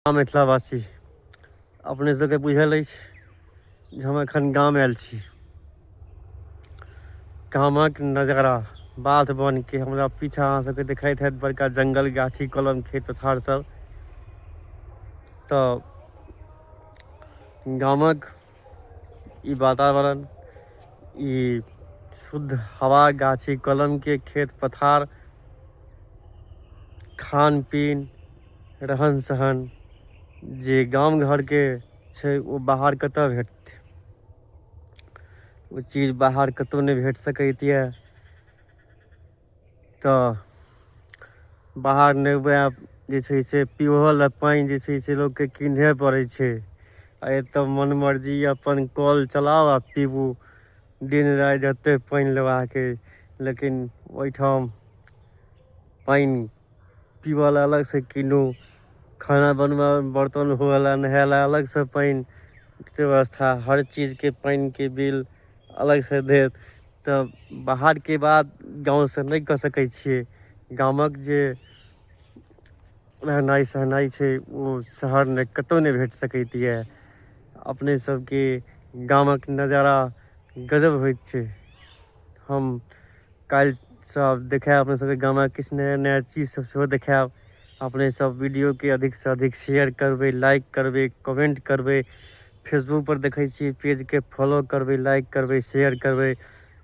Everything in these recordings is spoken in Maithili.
हम मिथिलावासी अपने सबके बुझल अछि जे हम एखन गाम आयल छी गामक नजारा बाध बनके हमरा पीछा अहाँ सबके देखाइत हैत बड़का जंगल गाछी कलम खेत पथार सब तऽ गामक ई वातावरण ई शुद्ध हवा गाछी कलम के खेत पथार खान पीन रहन सहन जे गाम घर के छै ओ बाहर कतऽ भेटतै ओ चीज बाहर कतौ नहि भेट सकैत यऽ तऽ बाहर नहि हुए जे छै से पीबहो लए पानि जे छै से लोकके किनहे पड़ै छै आ एतऽ मन मर्जी अपन कल चलाउ आ पीबू दिन राति जते पानि लेबाक अइ लेकिन ओहिठाम पानि पीबऽ लए अलगसँ कीनू खाना बनबऽ बर्तन हुए लए नहाय लए अलगसँ पानि व्यवस्था हर चीजके पानिके बिल अलगसँ देत तऽ बाहरके बात गाँवसँ नहि कऽ सकै छियै गामक जे रहनाइ सहनाइ छै ओ शहरमे कतहु नहि भेट सकैत यए अपने सभके गामक नजारा गजब होइत छै हम काल्हिसँ आब देखायब अपने सभके गामक किछु नया नया चीजसभ सेहो देखायब अपनेसभ वीडियोके अधिकसँ अधिक शेयर करबै लाइक करबै कमेंट करबै फेसबुक पर देखै छी पेज के फॉलो करबै लाइक करबै शेयर करबै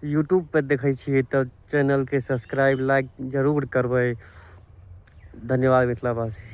यूट्यूब पर देखै छियै तऽ चैनलके सब्सक्राइब लाइक जरूर करबै धन्यवाद मिथिलावासी